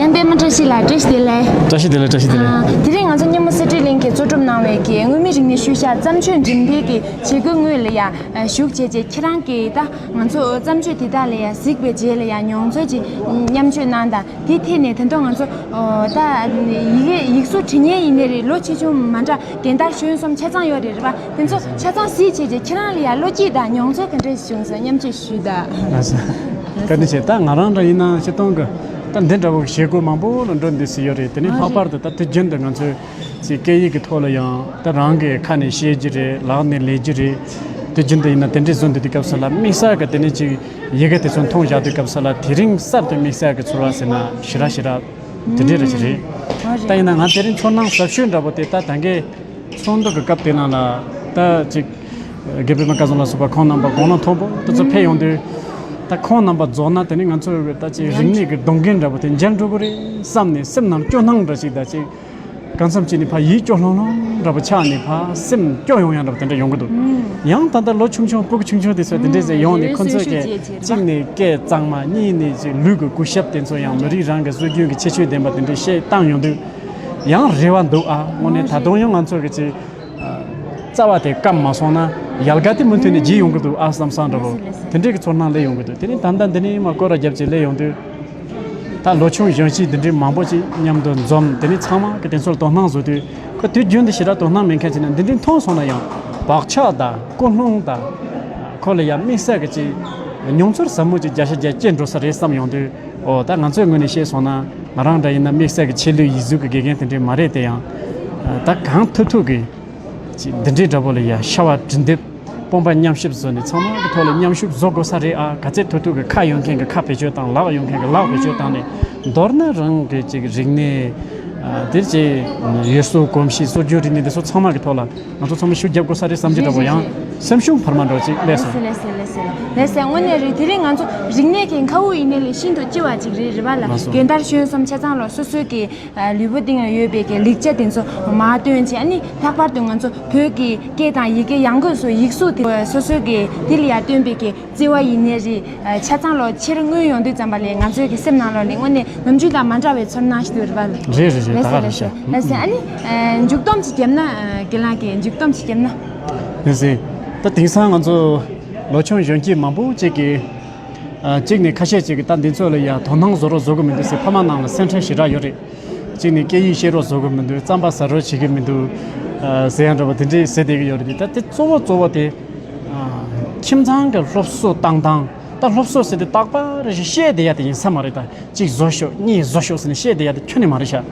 བསྟན་པའི་སྨད་བཀྲ་ཤིས་ལགས་བཀྲ་ཤིས་བདེ་ལེགས། བཀྲ་ཤིས་བདེ་ལེགས་བཀྲ་ཤིས་བདེ་ལེགས། དེ་རིང་ང་ཚོ་སྙེ་མོ་གསེར་ཁྲི་གླིང་གིས་གཙོ་སྒྲུབ་གནང་བའི་གི་དངོས་མིན་རིག་གནས་ཤུལ་བཞག་བརྩམས་ཆོས་འགྲེམས་སྤེལ་གྱི་བྱེད་སྒོའི་དངོས་ལ་ཡང་ཞུགས་བྱས་རྗེས་ཁྱེད་རང་གིས་ད་ང་ཚོ་བརྩམས་ཆོས་དེ་དག་ལ་ཡང་གཟིགས་པའི་རྗེས་ལ་ཡང་མྱོང་ཚོར་གྱི་མཉམ་སྤྱོད་གནང་དང་དེའི་ཐད་ནས་དེ་དོན་ང་ཚོ་ད་ཡིག་གཟུགས་བྲིས་སྙན་ཡིན་ནི་རེད་ལོ་ཆེ་ཆུང་མ་འདྲ་རྒན་དར་གཞོན་གསུམ་ཆ་ཚང་ཡོད་རེད་རེད་པ་དེ་ཚོ་ཆ་ཚང་གཟིགས་བྱས་རྗེས་ཁྱེད་རང་ལ་ཡང་བློ་སྐྱིད་དང་མྱོང་ཚོར་ག་འདྲས་བྱུང་སོང་མཉམ་སྤྱོད་ཞུས་དང། བཀའ་དྲིན་ཆེ་ད་ང་རང་འདྲ་ཡིན་ན་ཆེ་མཐོང་གི། ད་འདི་འདྲ་བོ་བཞེད་དགོས་མང་པོ་ལ་འགྲོ་འདོད་སྲིད་ཡོད་རེད་དེ་ནས་ལྷག་པར་དུ་ད་དུས་རྒྱུན་དུ་ང་ཚོས་ཚིག་སྐད་ཡིག་གི་ཐོག་ལ་ཡང་ད་རང་གི་ཁ་ནས་བཤད་རྒྱུ་རེད་ལག་ནས་ལས་རྒྱུ་རེད་དུས་རྒྱུན་དུ་ཡིན་ན་དེ་འདྲའི་བཟོ་འདོད་དུས་སྐབས་སུ་ལ་དམིགས་བསལ་གྱི་དེ་ནས་ཅིག་ཡི་གེ་དེ་ཚོ་མཐོང་བཞག་དུས་སྐབས་སུ་ལ་དེ་རིང་གསར་དུ་དམིགས་བསལ་གྱི་ཚོར་བ་ཟེར་ན་ཞི་རག་ཞི་རག་དེ་འདྲའི་རེད་ཞིག་རེད་ད་ཡིན་ན་ང་དེ་རིང་ཚོར་སྣང་ཟབ་ཤོས་འདྲ་བོ་དེ་ད་ད་གའི་ཚོགས་འདུ་གི་སྐབས་དེ་ནང་ལ་ད་ཅིག་རྒད་པོས་མ་བཀའ་ཟུང་ལ་ཟུག་པར་ཁོང་རྣམ་པ་དགོངས་ན་མཐོང་པོ་ད་ཚོད་ཕེབས་ཡོང་དུས། ད་ཁོང་རྣམ་པ་རྫོགས་ན་དེ་ནི་ང་ཚོ་འོས་པའི་ད་ཅིའི་རིག་གནས་ཀྱི་སྡོང་རྒན་འདྲ་པོ་དེ་མཇལ་འགྲོ་གི་རེད་བསམ་ནས་སེམས་ནང་སྐྱོ་སྣང་འདྲ་ཞིག་ད་ཅིག་གང་འཚམ་གཅིག་ནི་ཕ་ཡིད་སྐྱོ་ལྷོང་ལྷོང་འདྲ་པོ་ཆགས་ནས་ཕ་སེམས་སྐྱོ་ཡོང་ཡང་འདྲ་པོ་དེ་འདྲ་ཡོང་གི་འདུག་ཡང་ད་ལྟ་ལོ་ཆུང་ཆུང་སྤུ་གུ་ཆུང་ཆུང་དེ་ཚོ་དེ་འདྲས་ཟེར་ཡོང་ནས་ཁོ་ཚོས་སྐད་གཅིག་ནས་སྐད་གཙང་མ་གཉིས་ནས་ཅིག་ལུས་ཀྱི་སྐུ་ཞབས་དེ་ཚོ་ཡང་མི་རིགས་རང་གི་སྲོལ་རྒྱུན་གྱི་ཁྱད་ཆོས་ལྡན་པ་དེ་འདྲས་བཤད་བཏང་ཡོང་དུས། ཡང་རེ་བ་འདུག་ཨ་དངོས་གནས་ད་དུང་ཡང་ང་ཚོ་གི་ཅིག། རྩ་བ་དེ་སྐམ་མ་སོང་ན་ཡལ་ག་དེ་མུ་མཐུད་ནས་བརྗེ་ཡོང་གི་འདུག་ཨཱ་བསམ་བསམ་འདྲ་བོ་དེ་འདྲའི་གི་ཚོར་སྣང་ལེན་ཡོང་གི་འདུག་དེ་ནས་ད་ལྟ་འདི་ནས་མ་སྐོར་ར་བརྒྱབ་ཅིག་ལས་ཡོང་དུས་ད་ལོ་ཆུང་གཞོན་གཅིག་འདི་འདྲའི་མང་པོ་ཅིག་མཉམ་དུ་འཛོམས་དེ་ནས་ཚང་མ་གི་དེ་ཚོར་དོ་སྣང་བཟོ་དུས་ཁོ་དུས་རྒྱུན་དུ་ཞེ་དྲག་དོ་སྣང་མེད་མཁན་ཅིག་ན་འདི་འདྲའི་མཐོང་སོང་ན་ཡང་བག་ཆགས་དང་ཀུན་སློང་དང། ཁོ་ལ་ཡང་དམིགས་བསལ་གི་ཅིག་མྱོང་ཚོར་ཟབ་མོ་ཅིག་བརྒྱ་ཆ་བརྒྱ་སྐྱེས་འགྲོ་ས་རེད་བསམ་ཡོང་དུས་འོ་ད་ང་ཚོའི་ངོས་ནས་བཤད་སོང་ན། ང་རང་འདྲ་ཡིན་ན་དམིགས་བསལ་གྱི་ཆེས་ལོས་ཡིད་གཟུགས་ཀྱི་དགེ་རྒན་དེ་འདྲས་མ་རེད་དེ་ཡང། ད་གང་ཐུག་ཐུག་གིས། འདི་འདྲའི་འདྲ་པོ་ལ་ཡ་ཤ་བ་འབྲི་འདོད་སྤོང་པ་མཉམ་གཤིབ་བཟོ་ནས་ཚང་མ་གི་ཐོག་ལ་མཉམ་ཞུགས་བཟོ་དགོས་ས་རེད་ཨ་ག་ཚད་ཐུག་ཐུག་གིས་ཁ་ཡོད་མཁན་གྱི་ཁ་བེད་སྤྱོད་དང་ལག་ཡོད་མཁན་གྱི་ལག་བེད་སྤྱོད་བཏང་ནས་མདོར་ན་རང་གི་ཅིག་རིག་གནས། དེ་རྗེས་ཡུལ་སྲོལ་གོམས་གཤིས་སྲོལ་རྒྱུན་རིག་གནས་འདི་ཚོ་ཚང་མ་གི་ཐོག་ལ། ང་ཚོ་ཚང་མས་ཤུགས་བརྒྱབ་དགོས་ས་རེད་བསམ་གྱི་འདུག་ཡང་སེམས་ཤུགས་བར་མ་འགྲོ་ཅིག་ལེ་སོང། ལེ་སོང་ལེ་སོང་ལེ་སོང་ལེ་སོང་དངོས་གནས་རེད་དེ་རིང་ང་ཚོ་རིག་གནས་ཀྱི་མཁའ་དབུགས་ཡིན་ན་ལས་ཤིན་ཏུ་ལྕི་བ་ཅིག་རེད་རེད་བ་ལ་མ་སོང། རྒན་དར་གཞོན་གསུམ་ཆ་ཚང་ལོ་སོ་སོའི་གི་ལུས་པོ་སྟེང་ལ་ཡོད་པའི་གི་ལེགས་ཆ་དེ་ཚོ་མ་སྟོན་ཅིག་ཨ་ནི་ལྷག་པར་དུ་ང་ཚོ་བོད་ཀྱི་སྐད་དང་ཡི་གེ་ཡང་སྒོས་སུ་ཡིག་གཟུགས་དེ་ཚོ་སོ་སོའི་གི་དེ་ལ་ཡར་སྟོན་པའི་གི་བརྩེ་བ་ཡིན་ནི་རེད། ཆ་ཚང་ལོ་ཕྱིར་མངོན་ཡོང་དུས་ཙམ་པ་ལས་ང་ཚོའི་གི་སེམས་ནང་ལོ་ནི་དངོས་གནས་ནམ་རྒྱུན་དང་མ་འདྲ་བའི་ཚོར་སྣང་ཞིག་ཏུ་རེད་པ། རེད་རེད་རེད་ད་ག་རེད་ཤ། ལེ་ཟེར། ཨ་ནི། མཇུག་སྡོམ་ཅིག་བརྒྱབ་ན། དགེ་ལགས་ཀྱིས་མཇུག་སྡོམ་ཅིག་བརྒྱབ་ན། ལེ་ཟེར། ད་དེང་སང་ང་ཚོ། ལོ་ཆུང་གཞོན་སྐྱེས་མང་པོ་ཅིག་གིས། གཅིག་ནས་ཁ་ཤས་ཅིག་གིས་ད་འདི་ཚོ་ལ་ཡང་དོ་སྣང་བཟོ་རོགས་བཟོ་གི་མི་འདུག་སེ་ཕ་མ་རྣམས་ལ་སེམས་ཁྲལ་ཞེ་དྲག་ཡོད་རེད། གཅིག་ནས་སྐད་ཡིག་ཤེས་རོགས་བཟོ་གི་མི་འདུག་རྩམ་པ་ཟ་རོགས་བྱེད་ཀྱི་མི་འདུག། ཟེར་ཡང་འདྲ་པོ་དེ་འདྲས་ཟེར་བསྡད་ཀྱི་ཡོད་རེད་དེ་ད་དེ་གཙོ་བོ་གཙོ་བོ་དེ། ཁྱིམ་ཚང་གི་སློབ་གསོ་བཏང་སྟངས་ད་སློབ་གསོ་ཟེར་དུས་རྟག་པར་རེ་ཞིག་ཤེས་བསྡད་ཡ་དེ་ཡིན་ས་མ་རེད་ད་གཅིག་བཟོ་ཤོག་གཉིས་བཟོ་ཤོག་ཟེར་ནས་ཤེས་བསྡད་ཡ་དེ་ཁྱོན་ནས་མ་རེད་ཤག་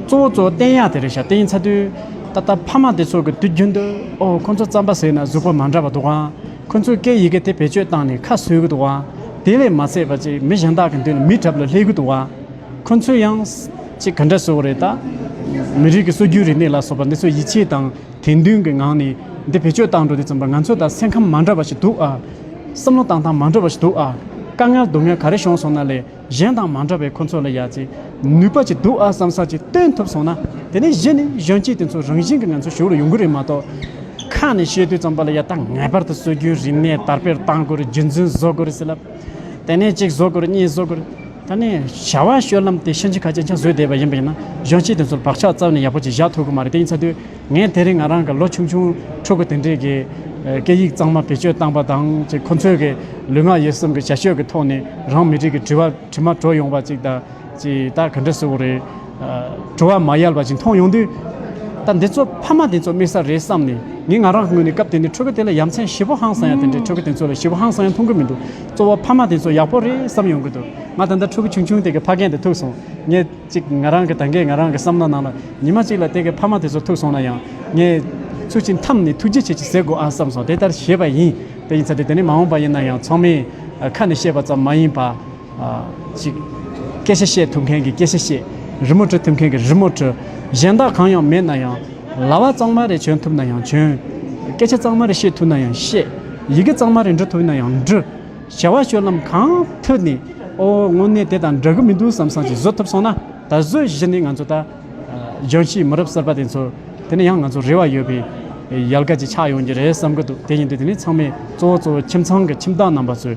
གཙོ་བོ་གཙོ་བོ་བསྟན་ཡ་དེ་རེད་ཤག་དེ་ཡིན་ཚ་དུས་ད་ལྟ་ཕ་མ་དེ་ཚོ་གི་དུས་རྒྱུན་དུ་ཨོ་ཁོ་ཚོ་རྩམ་པ་ཟོས་ན་གཟུགས་པོ་མ་འདྲ་བ་འདུག་ཨང་ཁོ་ཚོས་སྐད་ཡི་གེ་དེ་བེད་སྤྱོད་བཏང་ནས་ཁ་གསོས་གི་འདུག་ཨང་དེ་ལས་མ་ཚད་པ་ཅིག་མི་གཞན་དག་གི་མདུན་ལ་མིད་གྲབས་ལ་སླེབས་གི་འདུག་ཨང་ཁོ་ཚོས་ཡང་ཅིག་ག་འདྲ་བཟོ་བ་རེད་ད་མི་རིགས་ཀྱི་སྲོལ་རྒྱུན་རིག་གནས་ལ་སོགས་པ་འདི་ཚོ་ཡིད་ཆེས་དང། དད་འདུན་གྱི་ངང་ནས་འདི་བེད་སྤྱོད་བཏང་འགྲོ་དེ་ཙམ་པར་ང་ཚོས་ད་སེམས་ཁམས་མ་འདྲ་བ་ཞིག་འདུག་ཨ། བསམ་བློ་བཏང་སྟངས་མ་འདྲ་བ་ཞིག་འདུག་ཨ། དཀའ་ངལ་སྡུག་བསྔལ་ག་རེ་བྱུང་སོང་ན་ལས་གཞན་དང་མ་འདྲ་བས་ཁོ་ཚོ་ལ་ཡ་ཚེ་ནུས་པ་ཅིག་འདུག་ཨ་བསམ་ས་ཅིག་བཏོན་ཐུབ་སོང་ན་དེ་ནས་གཞི་ནས་གཞོན་སྐྱེས་དེ་ཚོ་རང་བཞིན་གྱི་ང་ཚོ་ཞུགས་ལ་ཡོང་གི་རེད་མ་གཏོགས། ཁ་ནས་བཤད་དུས་ཙམ་པ་ལ་ཡ་ད་ངེས་པར་དུ་སྲོལ་རྒྱུན་རིག་གནས་དར་སྤེལ་བཏང་དགོས་རེད་རྒྱུ་མཚན་བཟོ་དགོས་རེད་ཟེར་ལབ་དེ་ནས་གཅིག་བཟོ་དགོས་རེད་གཉིས་བཟོ་དགོས་རེད། ད་ནི་བྱ་བ་ཤོད་ལམ་དེ་ཤིན་ཅི་ཁ་ཅན་ཆང་བཟོས་བསྡད་པ་ཡིན་པ་ཡིན་ན་གཞོན་སྐྱེས་དེ་ཚོར་བག་ཆགས་རྩ་བ་ནས་ཡག་པོ་ཅིག་བཞག་ཐུབ་གི་མ་རེད་དེ་ཡིན་ཚ་དུས་ངས་དེ་རིང་ང་རང་གི་ལོ་ཆུང་ཆུང་ཕྲུ་གུ་དེ་འདྲས་ཀྱི་སྐད་ཡིག་གཙང་མ་བེད་སྤྱོད་བཏང་པ་དང་ཅིག་ཁོ་ཚོས་ཀྱི་ལུས་ངག་ཡིད་གསུམ་གྱི་བྱ་སྤྱོད་ཀྱི་ཐོག་ནས་རང་མི་རིགས་ཀྱི་དྲི་བ་དྲི་མ་དྲོ་ཡོང་བ་ཅིག་ད་ཅིག་ད་ག་འདྲ་བཟོ་གི་རེད། དྲི་བ་མ་ཡལ་བ་ཅིག་མཐོང་ཡོང་དུས། ད་འདི་ཚོ་ཕ་མ་དེ་ཚོ་དམིགས་ས་རེད་བསམ་ནས་ངས་ང་རང་ངོས་ནས་སྐབས་དེ་ནས་ཕྲུ་གུ་དེ་ལ་ཡ་མཚན་ཞི་བོ་ཧང་སང་ཡ་དེ་འདྲས་ཕྲུ་གུ་དེ་ཚོ་ལ་ཞི་བོ་ཧང་སང་ཡ་མཐོང་གི་མི་འདུག། གཙོ་བོ་ཕ་མ་དེ་ཚོ་ཡག་པོ་རེད་བསམ་ཡོང་གི་འདུག་ང་ད་ལྟ་ཕྲུ་གུ་ཆུང་ཆུང་དེ་གི་ཕ་རྒན་དེ་ཐུག་སོང་ངས་ཅིག་ང་རང་གི་ད་གས་ང་རང་གི་བསམ་བློ་ནང་ལ་ཉི་མ་གཅིག་ལ་དེ་གི་ཕ་མ་དེ་ཚོ་ཐུག་སོང་ན་ཡང་ངས་ཚུར་ཕྱིན་མཐའམ་ནས་ཐུགས་རྗེ་ཆེ་ཆེ་ཟེར་དགོས་ཨ་བསམ་སོང་དེ་ལྟར་བྱས་པ་ཡིན་དེ་ཡིན་ཚ་དེ་དེ་ནི་མ་འོངས་པ་ཡིན་ན་ཡང་ཚང་མའི་ཁ་ནས་བཤད་པ་ཙམ་མ་ཡིན་པར་ཅིག་སྐད་ཆ་བཤད་ཐུབ་མཁན་གྱི་སྐད་ཆ་བཤད་རི་མོ་འབྲི་ཐུབ་མཁན་གྱི་རི་མོ་བྲི་གཞན་དག་གང་ཡང་མེད་ན་ཡང། ལྭ་བ་གཙང་མ་རེ་གྱོན་ཐུབ་ན་ཡང་གྱོན། སྐད་ཆ་གཙང་མ་རེ་བཤད་ཐུབ་ན་ཡང་བཤད། ཡི་གེ་གཙང་མ་རེ་འབྲི་ཐུབ་ན་ཡང་འབྲི། བྱ་བ་སྤྱོད་ལམ་གང་ཐོས་ནས། ཨོ་དངོས་གནས་དེ་དང་འདྲ་གི་མི་འདུག་བསམ་བསམ་གྱིས་བཟོད་ཐུབ་སོང་ན། ད་གཟོད་གཞི་ནས་ང་ཚོ་ད། ལྗོངས་ཕྱིའི་མི་རབས་གསར་པ་དེ་ཚོ། དེ་ནི་ཡང་ང་ཚོར་རེ་བ་ཡོད་པའི། ཡལ་ག་ཅིག་ཆགས་ཡོང་གི་རེད་བསམ་གྱི་འདུག་དེ་བཞིན་དུ་དེ་ནི་ཚང་མས་གཙོ་བོ་གཙོ་བོ་ཁྱིམ་ཚང་གི་ཁྱིམ་བདག་རྣམ་པ་ཚོས།